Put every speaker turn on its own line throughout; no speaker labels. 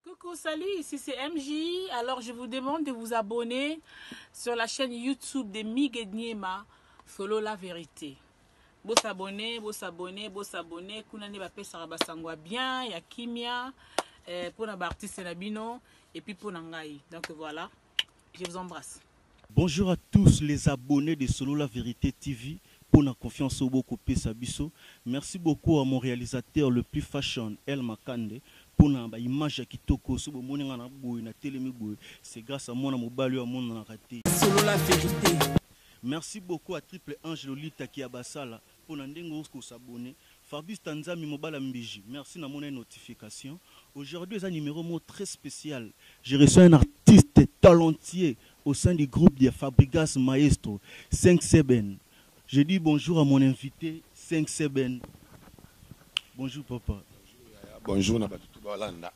Coucou, salut, ici c'est MJ. Alors je vous demande de vous abonner sur la chaîne YouTube de Migue Niema, Solo la vérité. Bo s'abonner, bo s'abonner, bo s'abonner. Kuna ne ba pesaka ba sangwa bien, ya kimia, eh, pona ba artistes na bino, et puis pona ngai. Donc voilà. Je vous embrasse. Bonjour à
tous les abonnes de solola verite TV pona confiance oyo boko pesa biso merci beaucoup à mon realisateur le plus fashion El Makande pona ba image ya kitoko soki bomoni nga na boye na telemi boye c'est grace à mwana mobali oyo amonanaka te solola verite.
Merci
beaucoup à triple ange lolita kiabasala. pona ndenge o ko s'abonner Fabrice Tanzambi mobala mbiji merci na mona notification aujourd'hui eza numero moko très special je reçois un artiste talentueux au sein du groupe de Fabrigas maestro cinq seben je dis bonjour à mon invite cinq seben bonjour papa. Bonjour yaya bonjour
na batu tout ba landa.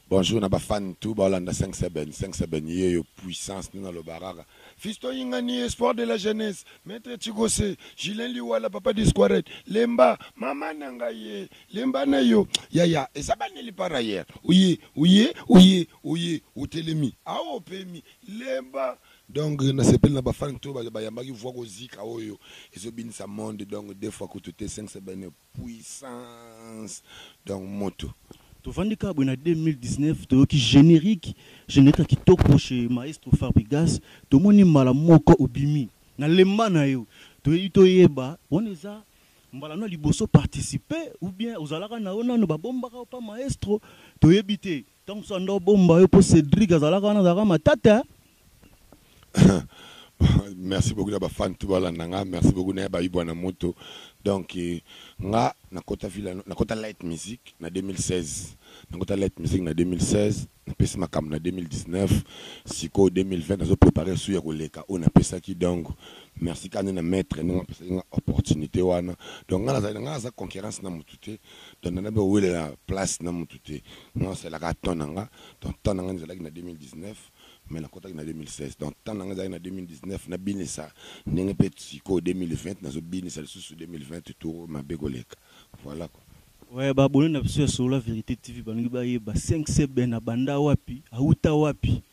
Bonjour na ba fan tout ba olanda 5 seben 5 seben yeyo puissance nde na loba kaka Fiston Ingani espoir de la jeunesse maitre Chikose Julien Liwala papa Disquaret Lemba maman na nga ye Lemba na yo yaya eza ba neli par ailleurs oye oye oye oye otelemi awa opemi Lemba donc na sepeli na ba fan tout ba yambaki voix ko zika oyo ezo binisa monde donc deux fois kutu te 5 seben puissance donc mutu. Tovandi kaka boye
na 2019 toyoki generique generique ya kitoko chez maestro fabrigas tomoni mbala moko obimi na lemba nayo toyei toyeba wana eza mbala no ya liboso participe ou bien ozalaka nayo nanu babombaka yo pa maestro toyebi te Tangu sanda obomba yo po Cedric azalaka wana azalaka matata.
merci beaucoup na ba fan tout balanda nga merci beaucoup na ba ibwa na moto donc eh, nga nakota vila nakota light music na 2016 nakota light music na 2016 napesi makambo na 2019 sikoyo 2020 nazo prépare su ya koleka oyo napesaki donc merci kani na maître ndenge apesaki nga opportunité wana donc nga nazali nga naza concurrence na motu te donc na nabe owelela place na mutu te nga osalaka temps na nga donc temps na nga ezalaki na 2019 mais nakotaki na 2016 donc temps na nga ezalaki na 2019 nabinisa ndenge mpe sikoyo 2020 nazobinisa lisusu 2020 tour mabe koleka voilà quoi Ouais, ba abonne na
biso ya solola verite TV balingi bayeba 5CB na banda wapi, awuta wapi?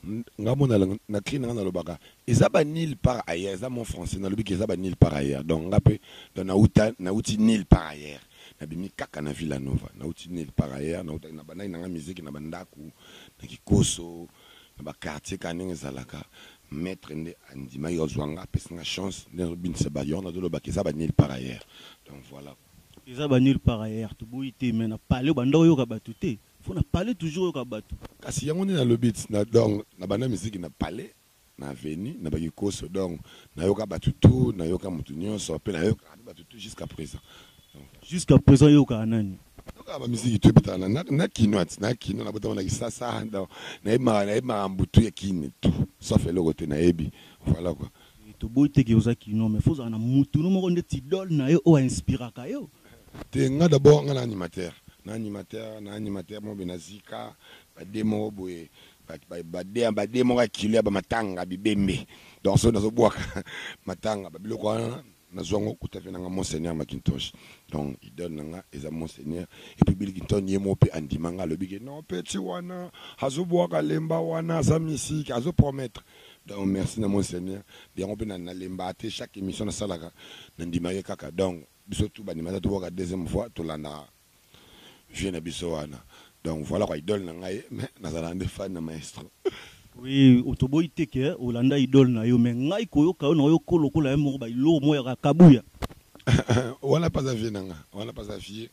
Nga mot na lang na cri na nga na lobaka eza ba nil par ailleurs eza mot français na lobi ke eza ba nil par ailleurs donc nga pe donc na uta na uti nil par ailleurs na bimi kaka na Villa Nova na uti nil par ailleurs na uta na bandaki na nga musique na ba ndaku na kikoso na ba quartier ka ndenge ezalaka maitre nde andimaki azua nga apesi nga chance nde nazo binisa ba yango nazo loba ke eza ba nil par ailleurs donc voilà eza ba nil
par ailleurs toboyi te mais na palais obanda oyoka batu te Faut na palais toujours oyoka batu. Kasi yango nde nalobi
na donc na banda miziki na palais na avenue na bakikoso donc na yoka batu tout na yoka mutu nionso pe na yokaka pe batu tout jusqu'à present donc. Jusqu'à
present yo yokaka nani? Nayokaka ba miziki tout
ebetaka na na na kinois na kino na botama na kisasa donc na yebi maka na yebi makambu tout ya kin tout sauf eloko te na yebi voilà quoi. Toboyi te ke oza
kinois mais faut ozala na mutu no moko ndeti idole nayo oyo a inspiraka yo Te nga d'abord
nga na animateur na animateur na animateur moko boye na zika ba de moko boye ba de ba de moko ya kilo ya ba matanga bibembe donc soki nazo bwaka matanga ba biloko wana nazwa ngo kuta pe nanga monseigneur Macintosh donc idole nanga eza monseigneur et puis Bill Clinton ye moko pe andima nga alobi ke non petit wana azo bwaka lemba wana aza mystique azo promettre donc merci na monseigneur yango pe na lemba te chaque émission nasalaka nandima ye kaka donc Biso tout ba ndima ata tobuaka deuxième fois tolandaka vieux na biso wana donc voilà quoi idole na ngai mais nazalaka nde fan na maestro. Oui
otoboyi te que olanda idole na yo mais ngai koyoka yo na oyo ko lokola ye moko ba iloro moko ya kabuya.
Wana pe aza vieux na nga wana pe aza vieux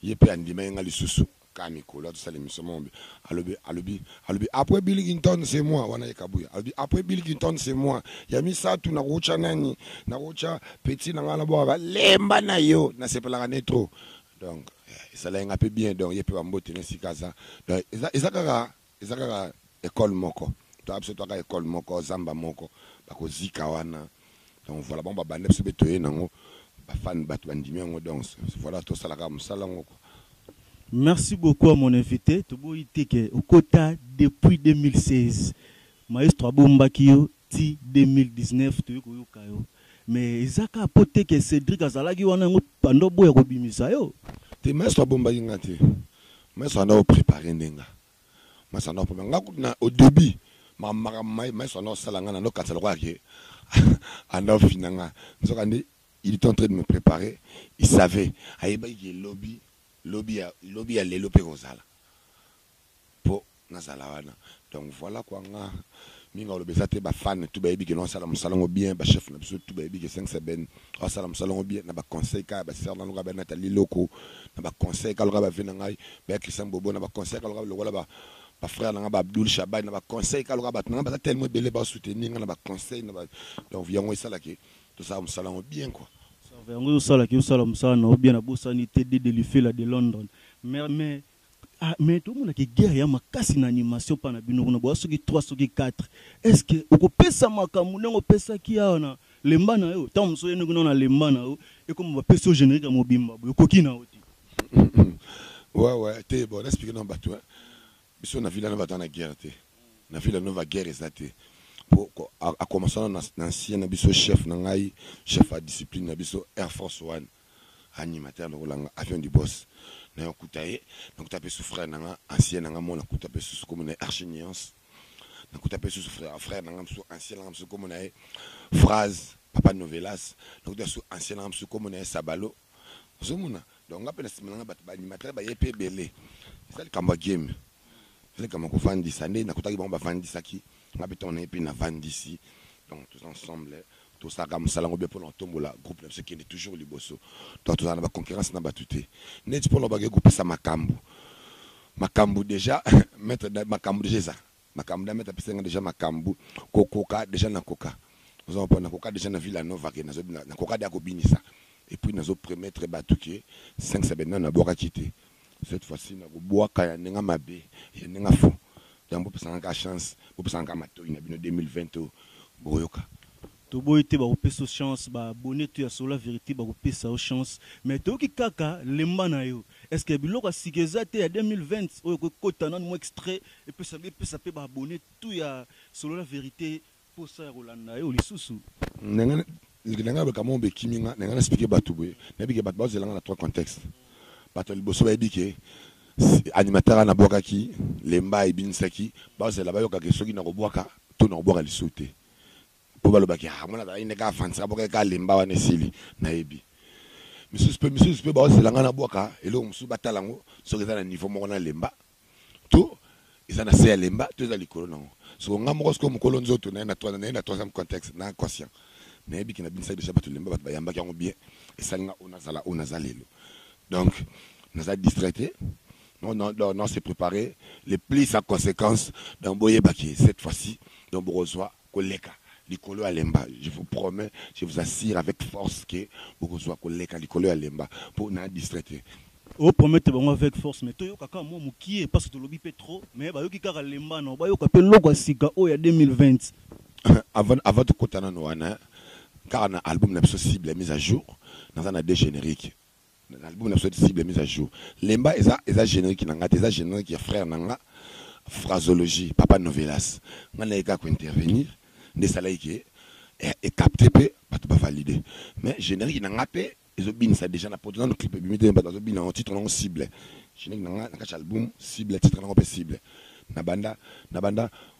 ye pe andimaki nga lisusu Ka mikolo azo sala emission moko boye alobi alobi alobi après Billington c'est moi wana ye kabuya alobi après Billington c'est moi ya misatu nakotya nani nakotya petit na ngai na bwaka balemba na yo nasepelaka ne trop donc eh, esalaki ngai mpe bien donc ye mpe bambote na esika aza donc eza, eza kaka Eza kaka ecole moko toa biso toaka ecole moko zamba moko bakozika wana donc voilà bango babanda biso be toye nango bafani bato bandimi yango donc voilà tosala kaka mosala yango kua. Merci
beaucoup à mon invite toboyi te ke okota depuis 2016 maestro abombaki yo ti 2019 toye koyoka yo mais eza kaka po te ke Cedric azalaki wana yango banda oboya kobimisa
yo. Te
maestro
abombaki nga te. Maestro
anda o
preparer
nde
nga maestro anda o preparer nga kutu na au debut ma makambo ma maestro anda osala nga nando kanisa lokola ke anda ofina nga nzoka nde il est en train de me preparer il savait ayebaki ke lobi lobi ya lobi ya lelo pe ekozala po nazala wana donc voila quoi nga mingi oloba eza te ba fan tout bayebi que non asala musala ngo bien ba chef na biso tout bayebi que cinq seben asala musala ngo bien na ba conseil ka ya ba sœur na loka ba Nathalie Loko na ba conseil ka loka ba vie na ngai ba ya Christian Bobo na ba conseil ka loka lokola ba ba frère na ngai ba Abdoul Shabani na ba conseil ka loka bato na ngai baza tellement ebele ba soutenir ngai na ba conseil na ba donc yango esala que tosala musala ngo bien quoi Sava yango ezo sala
que osala musala na yo bien na bosani te de de Lufela de London mais mais Ah mais tomona ke guerre ya makasi na animation pa na bino kuna boza soki trois soki quatre est ce que okopesa makambu ndenge opesaki awa na lemba na yo tango mosusu oyende kuna na lemba na yo ekoma bapesi yo generique ya mobimba boye ekoki na yo te.
Ouais ouais te bon na explique na batu hein biso na villa nova toza na guerre te na villa nova guerre eza te po a commencer na ancien na biso chef na ngai chef ya discipline na biso air force one Animateur lokola nga avion du boss nayo kuta ye nakuta pe su frère na nga ancien na nga mona kuta pe susu kombo na ye archi nuance nakuta pe susu frère frère na nga mususu ancien na nga mususu kombo na ye phrase papa novelas nakuta su ancien na nga mususu kombo na ye sabalo ozomona donc nga pe na sima na nga bato ba animateur baye pe ebele eza likambo ya game eza likambo ya kovandisa nde nakutaki bango bavandisaki nga pe ntango na ye pe navandisi donc toza ensemble Tosalaka musala yango bien pona kotombola groupe na biso ekende toujours liboso. Donc tozala na ba concurrence na batu te. Neti pona obaki ko pesa makambu makambu dejà maitre da makambu dejà eza makambu da maitre apesaki nga dejà makambu ko koka dejà na koka ozo comprendre na koka dejà na villa nova ke nazo na koka dejà ko binisa et puis nazo premettre batu ke 5 semaines nanu na bwakaki te Cette fois ci nako buaka ya nenga mabe ya nenga fou donc bo pesa nga ka chance bo pesa nga ka matoyi na bino 2020 oyo boko yoka. Toboyi
te bako pesa yo chance ba abonne tout ya solo la verite bako pesa yo chance mais toyoki kaka lemba na yo est ce que biloko ya sika eza te ya 2020 oyo ekoki kota nanu mua extrait epesa epesa pe ba abonne tout ya solo la verite Posa ya kolanda yo lisusu. Na nga
leke na nga ba kamon be kimi nga na nga na explique batu boye na yebi ke batu bazo zela nga na trois contexte batu ya liboso ba yebi ke animateur wana na bwakaki lemba ebinisaki bazo zela ba yoka ke soki nako bwaka to nako bwaka lisusu te po ba loba ke ah mwana azalaki nde kaka afandisaka abwakaki kaka lemba wana esili na yebi misusu pe misusu pe bazo zela nga na bwaka eloko mususu ba tala ngo soki eza na niveau moko na lemba to eza na se ya lemba to eza likolo na yango soko nga moko soko mokolo nzoto na ye na toile na ye na troisième contexte na inconscient na yebi kina binisaki deja bato lemba bato bayambaki yango bien esali nga ona zala ona za lelo donc naza distraite non non non non se préparer les plus en conséquence donc boyeba que cette fois-ci donc bokozwa koleka likolo ya lemba je vous promets je vous assire avec force que bokozua koleka likolo ya lemba po na distrait te. O promettre
bango avec force mais toyoka kaka mua mukie parce tolobi pe trop mais bayoki kaka lemba non bayoka pe eloko ya sika oyo ya 2020. Avant
avant tokota nanu wana hein kaka na album na biso cible mise à jour naza na deux generique. Na album na biso ti cible mise à jour lemba eza eza generique na nga te eza generique ya frère na nga Fraseologie papa Novelas nga na ye kaka ko intervenir nde esalaki ke e capter pe batu ba valide mais generique na nga pe ezo binisa dejà na poto nanu clip ebimi te mais batu bazo bina yango titre na ngo cible generique na nga na kati ya album cible titre na ngo pe cible na banda na banda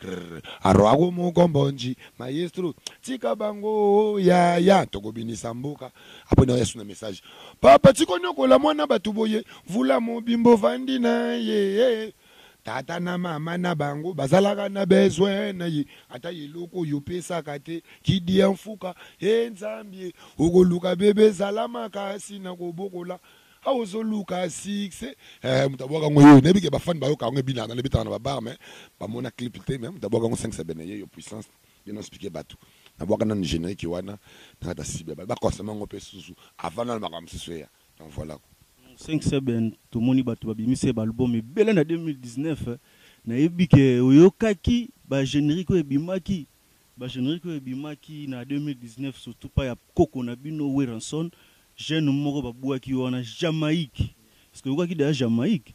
Grr Aroago Mukombonji Maestro tika bango yaya toko binisa mboka apres na yesu na message papa tiko niokola muana batu boye mvula mobimba ovandi naye tata na mama na bango bazalaka na besoin naye ata eloko oyo opesaka te kidia nfuka he nzambe okoluka bebe zala makasi na kobokola Awa ozo luka succès eh mutu abuaka ngo yeyo nayebi ke ba fan bayoka yango ebina na ebetaka na ba bar mais ba mona clip te mais mutu abuaka ngo 5 seben yeyo puissance bien explique batu na buaka nanu generique wana na kata cible ba consommer ngo pe susu avant nanu makambo misusu eya donc voila quoi. 5 seben
tomoni batu ba bimisi ba album ebele na 2019 na yebi ke oyokaki ba generique oyo ebimaki Ba generique oyo ebimaki na 2019 surtout pa ya koko na bino Werrason jeune moko ba buaki yo wana Jamaïque est ce que oyokaki dejà Jamaïque?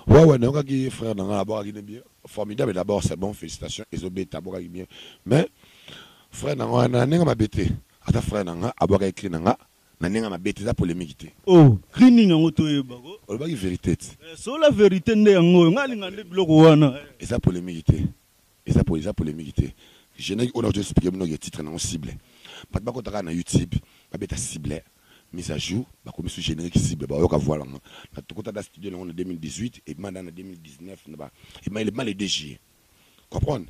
Ouais ouais
nayokaki frère na nga abwakaki ne bien formidable d'abord c'est bon felicitations ezo beta abwakaki bien mais frère na nga wana na ndenge ya mabe te aza frère na nga abwakaki cri na nga na ndenge ya mabe te eza polemique te. Oh cri nini
yango toyeba ko. Olobaki verite te. Eh
solola verite
nde yango oyo nga alinga nde biloko wana eh. Eza polemique te.
Eza po eza polemique te generique oyo nazo explique bino ke titre nango cible batu ba kota kaka na youtube ba beta cible mise à jour ba komi su generique cible ba yoka voix nango na tokota ata studio nango na 2018 ebima ata na 2019 naba ebima ebima le 2 juillet comprendre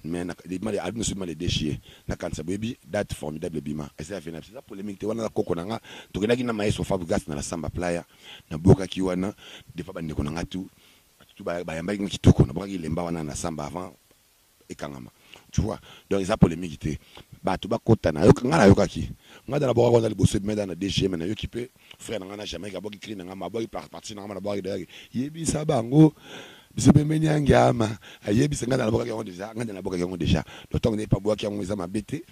mais na ebima le album na biso ebima le 2 juillet na kanisa bo yebi date formidable ebima eza ya Venabs eza polemique te wana na koko nanga tokendaki na maestro Fabregas na la samba playa na bwokaki wana devant ba ndeko nanga tout Batu tout bayambaki nga kitoko nabwakaki elemba wana na samba avant ekangama tu vois donc eza polemique te batu bakota na nga nayokaki nga nde nabwakaki wana liboso ebima dejà na dgm nayoki pe frère na nga na Jamaïque abwaki cri na nga abwaki partie na nga nabwakaki dejà ke yebisa bango biso pembeni ya ngiama ayebisa nga nde nabwakaki yango dejà nga nde nabwakaki yango dejà donc tango nayebi pe abwaki yango eza mabe te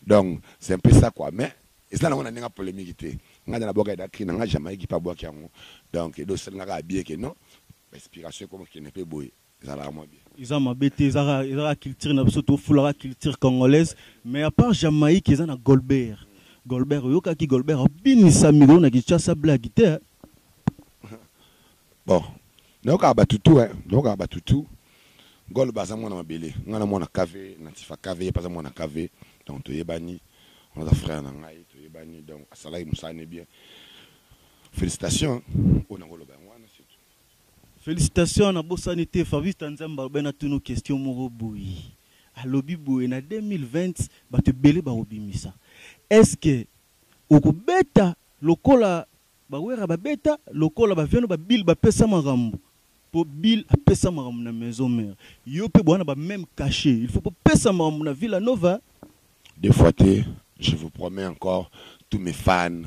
donc c'est un peu ça quoi mais Eza nango na ndenge ya polemique te. Nga nde na bwaka eda cri na nga Jamaïque pe abwaki yango donc eda osali nga kaka bien que non ba inspiration eko kende pe boye ezalaka mwa bien. Eza mabe te eza kaka
eza kaka culture na biso to fulaka culture congolaise mais à part Jamaïque eza na Golbert Golbert oyokaki Golbert abinisa micro na Kinshasa blague te hein.
Bon nayokaka batu tout hein nayokaka batu tout Goloba aza mwana mabele nga na mwana KV na Tifa KV ye pe aza mwana KV donc toyebani wana aza frère na ngai toyebani donc asalaki musala ne bien felicitations oyo nako loba yango wana c'est tout. Felicitations
na bosani te Fabista Nzambe alobi na tuna yo question moko boye alobi boye na 2020 batu ebele bako bimisa est ce que oko beta lokola Ba werra ba beta lokola ba viano ba bill ba pesa makambu po bill a pesa makambu na maison mere yo pe boa na ba meme cachet il faut bo pesa makambu na villa nova. Deux fois
te je vous promets encore tout mes fan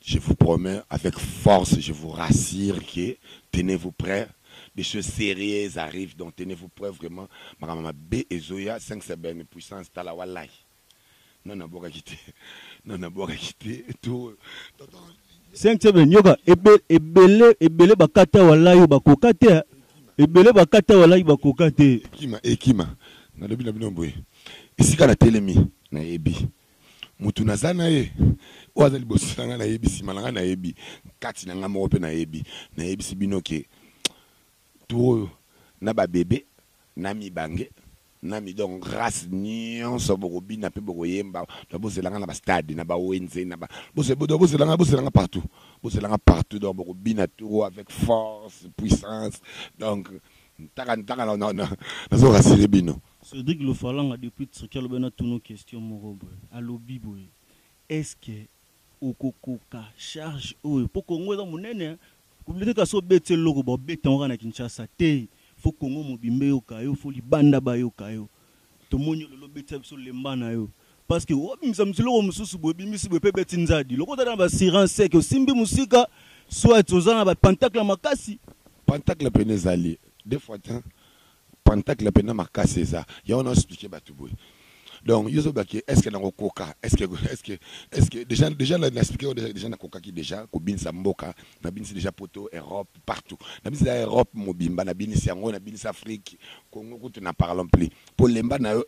je vous promets avec force je vous rassire que tenez vous pret des choses serieuses arrive donc tenez vous pret vraiment makambo ya mabe ezoya 5 sebene puissance tala walayi. Non na bwakaki te. Non na bwakaki te. To tonton.
Cinq seven nioka ebele ebele ba kata walayi ba koka te hein. Ebele ba kata walayi ba koka te. Ekima ekima
na lobi na bino boye esika na telemi na yebi mutu na za naye oyo aza liboso na nga na yebi sima na nga na yebi kati na nga moko pe na yebi na yebisi bino ke Tour oyo na ba bebe na mibange na midon grace nionso boko bina pe boko yemba donc bozela nga na ba stade na ba wenze na ba bozela donc bozela nga bozela nga partout bozela nga partout donc boko bina tour oyo avec force puissance donc ntaka ntaka na na nazo rassurer bino Cedric Lofalanga
depuis Turquie alobi na tuna yo question moko boye alobi boye est ce que Okokoka charge oyo po congo eza munene hein communaute kasi obeti eloko ba obeti yango kaka na Kinshasa te faut congo mobimba eyoka yo faut libanda ba yoka yo tomoni yo lelo obetisa biso lemba na yo parce que oa bimisa mutu eloko mususu boye obimisi boye pe ebeti nzadi lokola oza na ba assurance seke osimbi musika soit oza na ba pantacle ya makasi Pantacle pene
ezali de fois tein Pantacle penza makasi eza yango nazo explique batu boye donc yo ozoloba ke est ce que nako koka est ce que est ce que est ce que deja deja na explique yo deja deja nakokaki deja kobinisa mboka na binisi deja poto Europe partout na binisi deja Europe mobimba na binisi yango na binisi Afrique Congo kutu na parlons plus po lemba na yo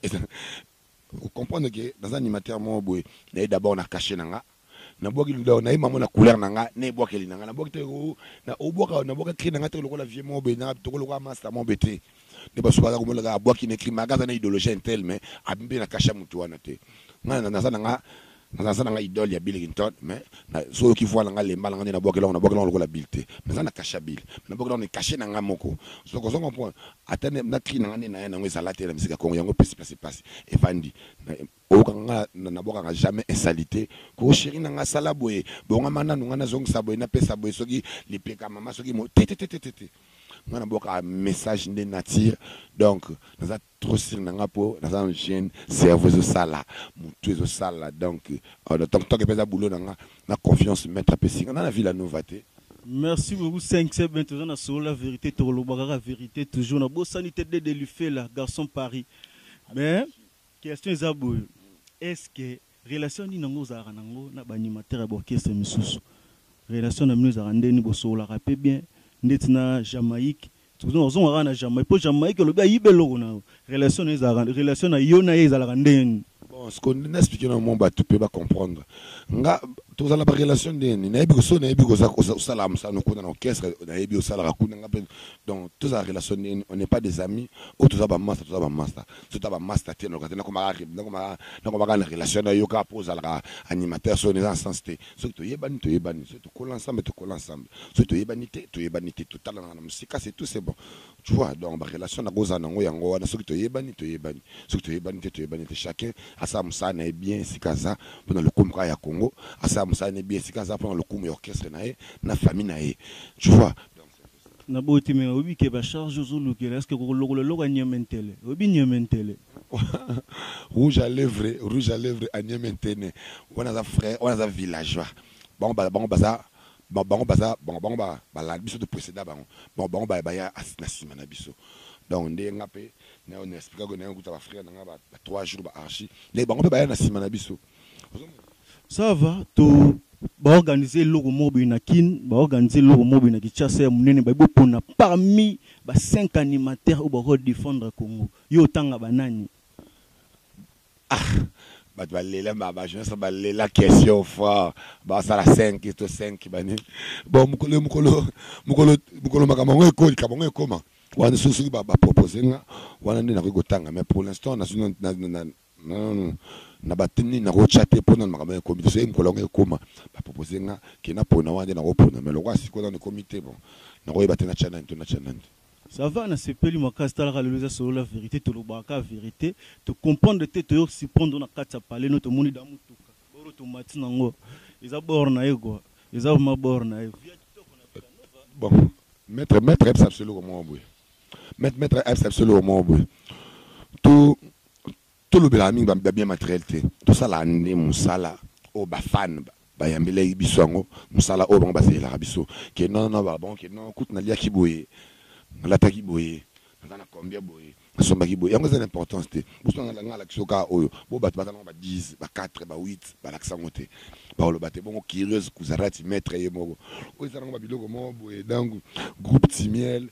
Oko comprendre que naza animateur moko boye naye d'abord na cache nanga na bwaki lidawa na ye mango na couleur na nga na ebwakeli na nga na bwaki te o na obwaka na bwaka cri na nga te lokola vieux moko boye na toko lokola masta moko boye te nde basu baza komona kaka abwaki na cri ma gaza na idologène tel mais abimi na kasha mutu wana te nga na naza na nga Naza aza nanga idole ya billington mais na soki oyoki voix nanga lemba nanga nde na bwakela ngo na bwakela ngo lokola bill te mais aza na cache ya bill mais na bwakela ngo na cache nanga moko donc ozo comprendre ata nde na cri nanga nde naya nango ezala te na musique ya congo yango epesi place pasi evandi oyoka nga na bwakaka jamais insalite ko cheri nanga sala boye bongama nanu nga na zongisa boye na pesa boye soki lipeka mama soki mo te te te te te nga na bwaka message nde nature donc naza trop sur na nga po naza na jeune cerveau ezo sala mutu ezo sala donc donc tant que pe eza boulot na nga na confiance maitre apesi nga na na villa nova te Merci
beaucoup 5 ce ben toza na solo la verite toko loba kaka verite toujours na bosani te dede lufela garçon paris mais question eza boye est ce que relation nini yango ozalaka na ngo na ba animateur ya ba orchestre misusu relation na bino ezalaka nde nini bosololaka pe bien ndeti na jamaïque Ozonga kaka na Jamaïque po Jamaïque olobi ayiba eloko na yo. Relation na ye ezalaka relation na yo na ye ezalaka ndenge nini? Bon sikoyo na
explique na mwa batu pe ba comprendre nga tozala na ba relation ndenge nini? Nayebi ko soki nayebi koza osala mosano kuna na orchestre nayebi osalaka kuna nga pe donc tozala relation ndenge nini? On n'est pas des amis ou toza ba masta toza ba masta soki toza ba masta te naloka te nakoma kaka nakoma kaka na relation na yo kaka po ozalaka animateur soki eza na sens te. soki toyebani toyebani soki tokola ensemble tokola ensemble soki toyebani te toyebani te totalanaka na mosika c'est tout c'est bon tu vois donc ba relation na kozala nango yango wana soki toyebani toyebani soki toyebani te toyebani te chacun asala mosala na ye bien esika aza mpo na lokumu kaka ya Congo asala mosala na ye bien esika aza mpo na lokumu ya orchestre na ye na famille na ye tu vois Na boyi
te mais oyebi ke ba charge ozo lukela est ce que okoki kolokola eloko ya nieme ntele? Oyebi nieme ntele?
Rouge à levre rouge à levre à nieme ntene wana aza frère wana aza villageois bango ba bango baza ba bango baza bango bango ba balandi biso to preceda bango bango bango ba baya na sima na biso donc nde nga pe nayo na expliquaka nayo kuta ba frère na nga ba ba trois jours ba archi nde bango pe baya na sima na biso
Ça va to ba organiser eloko moko boye na Kin, ba organiser eloko moko boye na Kinshasa ya munene ba bo pona parmi ba cinq animateurs oyo ba ko defendre Congo. Yo otanga ba nani? Ah
bato ba lela ma ba journaliste ba lela question fort ba sala 5 to 5 ba nini? Bon mukolo mukolo mukolo mukolo makambo yango ekoli kabo yango ekoma wana soki soki ba ba proposer nga wana nde nakoki kotanga mais pour l'instant na na Hum na ba theme nini nako tia te po nanu makambo wana ekomi te soki mokolo yango ekoma ba propose nga ke na pona wana nde nako pona mais lokola sikoyo nanu ekomi te bon nako yeba te na tia nani to na tia nani te. Ça
va na sepeli makasi tala ka lelo eza solola verite tolobaka ka verite to comprendre te toye ko surprendre na kati ya palais no tomoni da mutuka bord oyo tomati na ngo eza bord na ye quoi eza vraiment bord na ye via kitoko
na villa nova. Bon maitre maitre ayebisa biso eloko moko boye maitre maitre ayebisa biso eloko moko boye to Tolobelaka mingi ba biens materiels te, tosalaka nde musala oyo ba fans bayambelaki biso yango, musala oyo bango bazelelaka biso que non non ba bango que non kutu naliaki boye, nalataki boye, naza na combien boye, nasombaki boye, yango eza na importance te. Boso nanga nalakisa yo kaka oyo, bo batu baza nango ba dix, ba quatre, ba huit balakisa yango te, bakoloba te bongo Curieuse Kuzarati maitre ye moko oyo eza nango ba biloko moko boye donc groupe Timiel,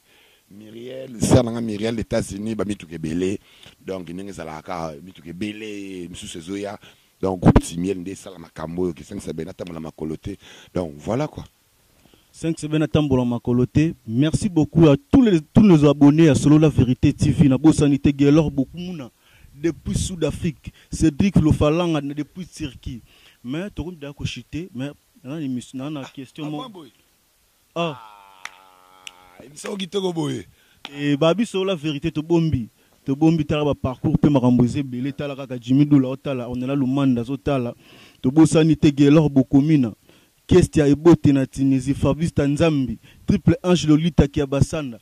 Miriel sœur nanga Miriel na etats unis ba mituka ebele donc ndenge ezalaka kaka mituka ebele misusu ezoya donc groupe timiel nde esala makambo oyo kisengi sabena atambola makolo te donc voilà quoi. Sengi Sebene
atambola makolo te merci beaucoup à tous les tous nos abonnes ya solola verite TV na bosani te Guelor Bokumuna depuis Sud Afrique Cedric Lofalanga depuis Turquie mais tokomi dejà ko chute mais na na question moko Ah. Ah, emission moko kitoko boye. Eh, ba biso la verite to bombi. To bombi tala ba parcours pe makambo eza ebele tala kaka Jimmy Dula otala Ornella Lumanda azo tala. To bosani te Guelor Bokomina, Kestia Ebote na Tunisie, Fabrice ta Nzambi, Triple Ange Lolita Kiabasanda.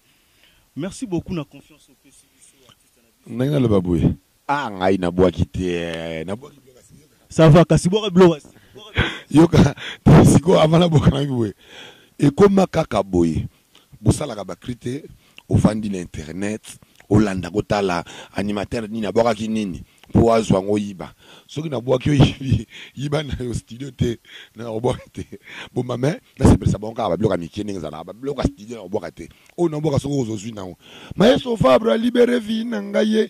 Merci beaucoup na confiance opesi biso artiste na biso. Ndenge naloba boye.
Ah ngai na bwaki te eh, na bwaki biloko ya sika yoka. Ça va
kasi bwaka biloko ya sika. Yoka
siko avant na bwaka nangi boye. Ekoma kaka boye. Bosalaka ba cri te, ofandi na internet, olanda kotala animateur nini abwakaki nini po azwa ngo yiba. Soki na bwaki yo yibi, yiba nayo studio te, na kobwaka te. Boma mais na sepelisa bango kaka ba biloko ya mikie ndenge ezalaka. Ba biloko ya studio na kobwaka te. Oyo na bwaka soki ozo zui nango. Maestro Fabre a libere vie na ngai eh.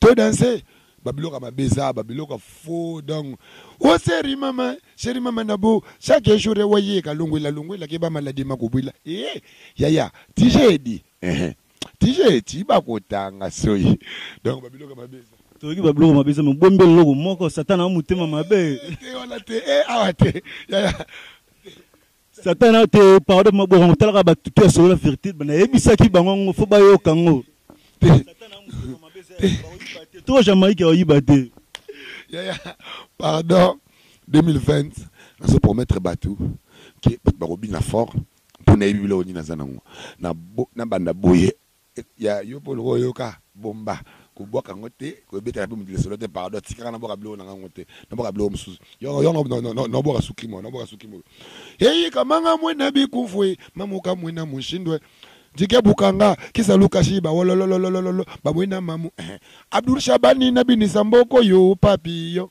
To danse ba biloko ya mabe eza ba biloko ya faux donc o oh, seri mama seri mama na bo chaque jour ya wa ye ka longwela longwela ke ba maladie ma kobwela eh yaya tijedi eh tijedi ba kotanga soyi donc ba biloko ya mabe eza toyoki babiloko mabe
eza mobombi eloko moko satana wa motema mabe te wana te e
awa te yaya
Satana te pardon maboko ngo talaka ba tutu ya solo la verite ba na yebisa ki bango ngo faut ba yoka ngo te satana ngo ma bese ba yiba te to jamaïque ba yiba te yaya
pardon 2020 na se promettre batu que batu ba ko bina fort pour na yibi bilo ni na zana ngo na na banda boye Et ya yo pe oloba oyoka bomba kobwaka yango te kobetaka pe mutu lisolo te pardon tikaka na bwaka biloko nanga yango te na bwaka biloko mususu yo yango na bwaka suki mo na bwaka suki mo eyi kamanga mwe na bikufwe mamuka mwe na mushindwe jike bukanga kisa lukashi ba wololololololo ba mwe na mamu eh Abdul Shabani na binisa mboko yo papi yo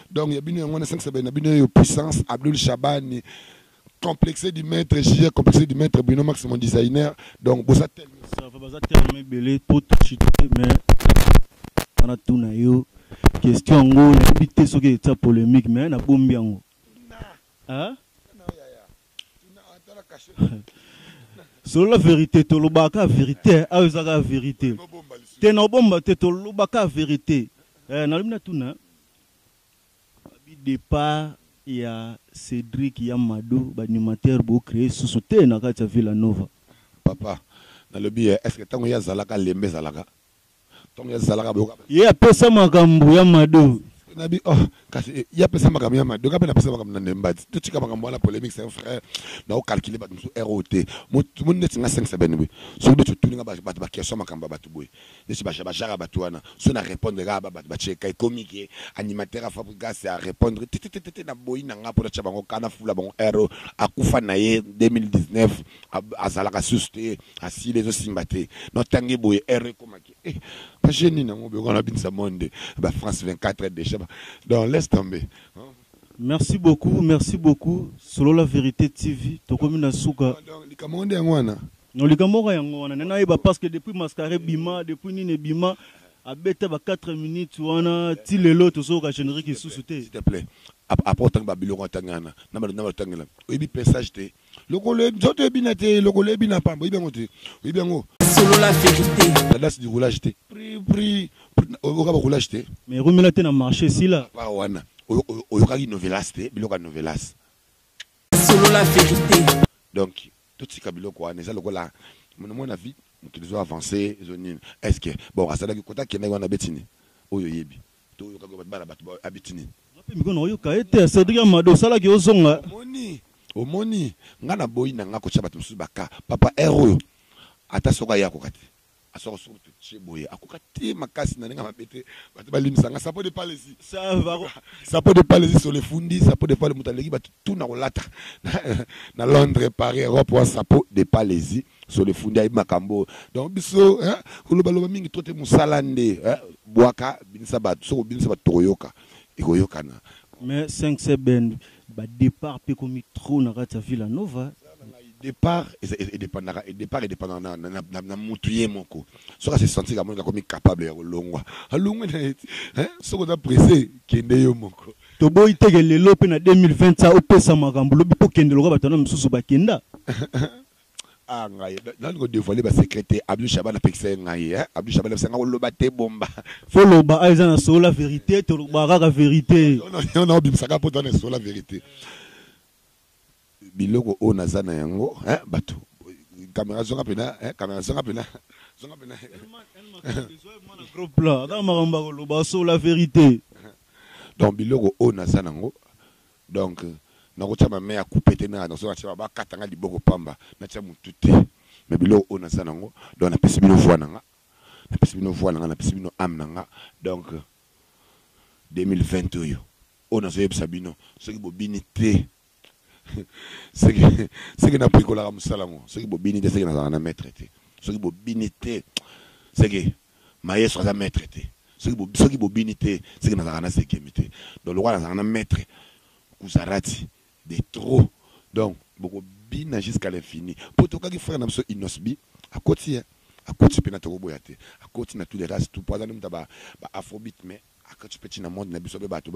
Donc ya bino yango wana esangisa baye na bino yo puissance Abdul Shabani complexe du maître JJ complexe du maître Bruno Max mon designer donc boza tellement ça va baza tellement
ebele trop touché mais wana tout na yo question yango nayebi te soki etia polémique mais na bombi yango hein solola verité tolobaka verité ayo ezaka verité te na obomba te tolobaka verité eh, nalobi na tuna Babi depart ya Cedric ya Mado b'animateur bo cree susu te na kati ya Villa Nova. Papa
nalobi eh eske tango ye azalaka lembe ezalaka tango ye azalaka boyoka. Ye apesa makambo
ya mado. Sikoyo na bi oh
kasi ye apesa makambo ya mado nga pe na pesa makambo na nde mbadi to tika makambo wana polemique c'est un frère na ko calculer batu mususu heure oyo te mutu neti nga sengisa beni boye soki beti otuni nga batu ba question ya makambo ya batu boye Neti ba jabajara batu wana soki na repondre kaka ba batu batie cas ekomi que animateur ya fabrigas a repondre tetetete na boyi na nga po natia bango cas na fula bango heure oyo akufa na ye 2019 azalaka susu te asili ezo simba te no tangi boye heure ekoma que eh ba jeux nini yango biloko wana babinisa monde ba France 24 dejà ba donc laisse tomber. Merci
beaucoup merci beaucoup solola verite TV tokomi na suka. Donc likambo yango nde yango
wana. Non likambo kaka
yango wana nde nayeba parce que depuis mascara ebima depuis nini ebima abeta ba 4 minutes wana ti lelo tozoyoka generique lisusu te. S'il te plait,
ap après otangi ba biloko atangi wana na ba na ba tangela oyebi pressage te lokolo oyebi nzoto oyebi na te lokolo oyebi na pamba oyebi yango te oyebi yango solola verite
la dance du roulage te
pri pri oyoka ba roulage te Mais rumela te na marché
sila. ba wana oyo-
oyo- oyokaki novelas te biloko ya novelas
solola verite donc
Totika biloko wana eza lokola monimoi na vie mokili ezo avance ezo nini eske bon azalaki kota akendaki wana abeti nini oyo oyebi to oyokaki oyo bana bato ba abeti nini Nga pe miko nayoka
ye te Cedric ya mado osala ke ozonga. Omoni omoni
nga na boyi na nga kotia bato mosusu ba cas papa heure oyo ata soki aye akoka te. Asoko soko to tse boye akoka te makasi na ninga mabe te batu ba limisa nga sapo de pale zi sapo de pale zi solo efundi sapo de pale mutu aleki batu tout na kolata na Londres Paris Europe wa sapo de pale zi solo efundi ayebi makambo oyo donc biso eh, koloba loba mingi trop te musala nde eh, bwaka binisa batu soko binisa batu tokoyoka ekoyokana mais 5
secondes Ba depart pe ekomi trop na kati ya Villa Nova. Eza na ngai depart
e dependaka depart e dependaka na na mutu ye moko soki a se sentir que amoni akomi capable ya kolongwa alongwe na ye hein soki oza presse kende yo moko. Toboyi te que
lelo pe na 2020 ca opesa makambu lobi po kende lokola batu wana misusu ba kenda.
Ah ngai nani ko devoile ba secret te abdul shabana pekisa ye ngai eh abdul shabana pekisa ngai koloba te bomba faut loba ah eza
na solo la verite toloba kaka verite non non bimisa kaka
poto na solo la verite biloko oyo naza na yango eh bato kamera zonga pena eh kamera zonga pena zonga pena
gros plan ata makambo koloba solo la verite donc
biloko oyo naza nango Donc nakotia ba mea coupe te na nazo natia ba kata nga liboko pamba natia mutu te mais biloko oyo naza nango donc napesi bino voix nanga napesi bino voix nanga napesi bino ame nanga donc 2020 oyo oyo nazo yebisa bino soki bobini te seke seke napikolaka musala ngo soki bobini te seke nazalaka na maitre te soki bobini te seke Maestro aza maitre te soki bobini te seke nazalaka na sekiemi te donc lokola nazalaka na maitre kuzarati de trop donc boko bina jusqu'à l'infini po tokaki frère na biso inosbi akoti ye akoti pena tokoboya te akoti na tous les races tout po aza nde muta ba afrobit mais akoti pe ti na monde na biso pe bato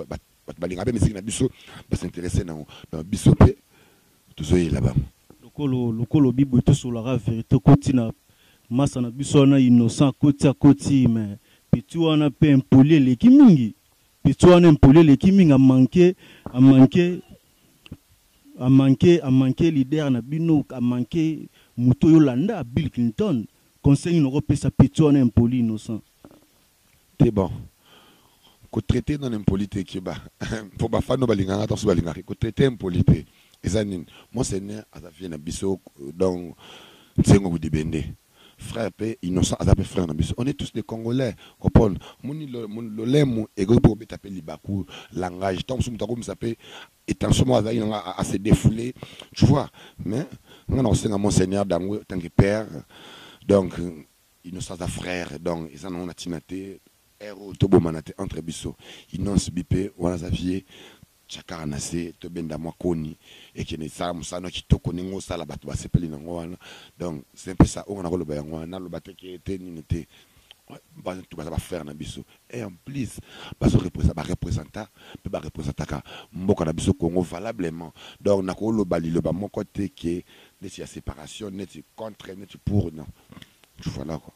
Batu balinga pe miziki na biso ba s'interesser nango donc biso pe tozo yela bango. Lokolo lokolo
bibwe to solola kaka verite okoti na masta na biso wana innocent akoti akoti mais petit wana pe impoli eleki mingi petit wana impoli eleki mingi a manque a manque a manque a manque leader na bino a manque mutu oyo olanda bill clinton conseil nini oko pesa petit wana impoli innocent. te
bon ko traite non impoli te keba po ba fano balinga nga tanso balinga ko traite impoli te eza nini monseigneur aza vie na biso donc nsengo budibende frère pe innocent aza pe frère na biso on est tous des congolais opon moni lolemu ekoki pe kobeta pe libaku langage tango mosusu moto akomisa pe etension moko azalaki nanga a se défouler tu vois mais nga na kosenga monseigneur dango tanke père donc Innoss aza frère donc eza nango na tina te heure oyo to bomana te entre biso innoss bipe wana aza vieux tia kaka na se to benda mwa koni ekende sala musala no kitoko ndenge ozo sala batu ba sepeli nango wana donc c'est un peu ça oyo nga nako loba yango wana na loba te ke te nini te bana tout baza ba frère na biso et en plus bazo represa ba representa pe ba representaka mboka na biso Congo valablement donc nako loba liloba moko te ke neti ya separation neti contre neti pour non Voilà quoi.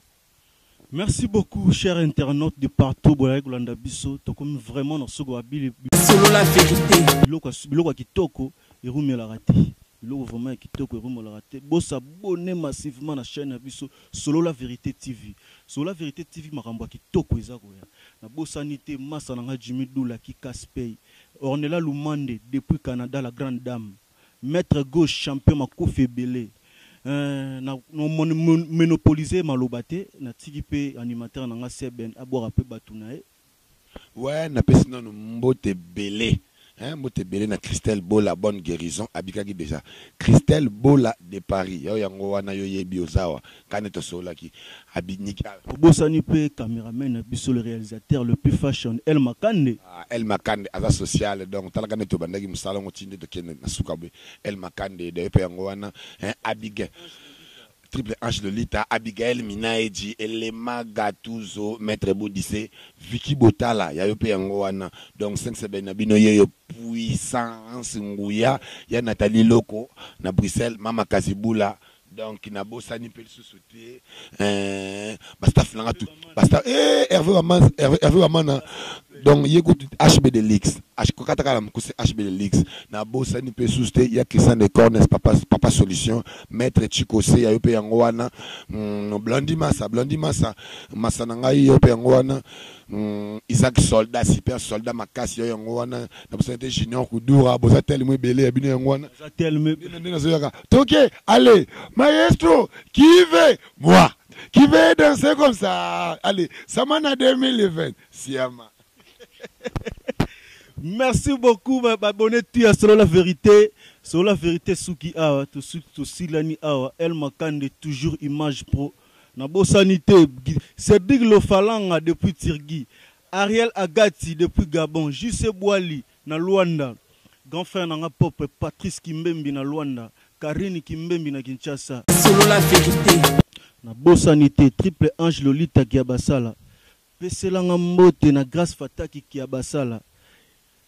Merci
beaucoup, cher internaute de partout. Bolai kolanda biso, tokomi vraiment na soko abili. Solo la vérité.
Biloko biloko kitoko
erumela raté. Biloko vraiment kitoko erumela raté. Bosa bonne massivement na chaîne ya biso Solo la vérité TV. Solo la vérité TV makambo ya kitoko eza koya. Na bosa nite massa na nga Jimmy Doula ki Kaspey. Ornella Lumande depuis Canada la grande dame. Maitre gauche champion makofi ebele eeh na monopoliser maloba te na tiki pe animateur na nga Seben abwaka pe batu na ye. Ouais
na pesi nanu mbote ebele hein mbote ebele na Christelle bola bonne guerison abikaki dejà Christelle bola de Paris yo yango wana yo yebi oza awa Kani tosololaki abiniki awa. Tobosani pe
cameraman na biso le realisateur le plus fashion El Makande. Ah El Makande aza social
donc talaka nde tobandaki musala yango ti nde tokende na suka boye El Makande donc ye pe yango wana hein Abigail Triple Ange Lolita Abigael Minaedji Elema Gatuzo Maitre Bodise Vicky Botala ya yo pe yango wana donc cinq seben na bino yeyo Puissance Nguya ya Nathalie Loko na Bruxelles Mama Kazibula Donc na bosani pe lisusu te eeh ba staff na nga tout ba staff eeh Herve Waman Herve Wamana donc ye kutu HB de Lux ko kata kaka na mukuse HB de Lux na bosani pe lisusu te ya Christian de Cornes papa papa solution maitre Chico Seya yo pe yango wana hum Blondy Massa Blondy Massa Massa na ngai yo pe yango wana hum Isaac soldat super soldat makasi yo yango wana na bosani te Junior Kudura boza telmo ebele ya bino yango wana boza telmo nde nazoyaka Toke allez maestro qui veut moi qui veut danser comme ça allez samana 2020 siama
Merci beaucoup ba ba bonne tu ya solo la vérité solo la vérité suki awa to suki to silani awa El Makande toujours image pro na bosani te Gi- c'est Big Lofalanga depuis Tirgi Ariel Agati depuis Gabon JC Boali Na Luanda, grand frère na nga propre Patrice Kimbembi na Luanda, Carine Kimbembi na Kinshasa. Solola verite.
Na bosani
te Triple Ange Lolita Kiabasala, pesela nga mbote na Grace Fataki Kiabasala,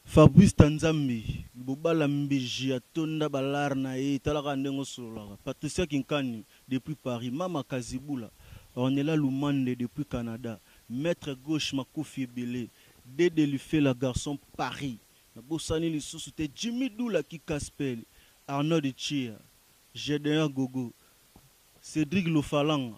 Fabrice Tanzambi, Libobala Mbiji atonda ba lar na ye, tala kaka ndenge osololaka, Patricia Kinkani depuis Paris, Mama Kazibula, Ornella Lumande depuis Canada, Maitre Gauche makofi ebele, Dede lifela garçon paris na bosani lisusu te Jimmy dula ki kaspele Arnold tshia Gedeon gogo Cedric lofalanga.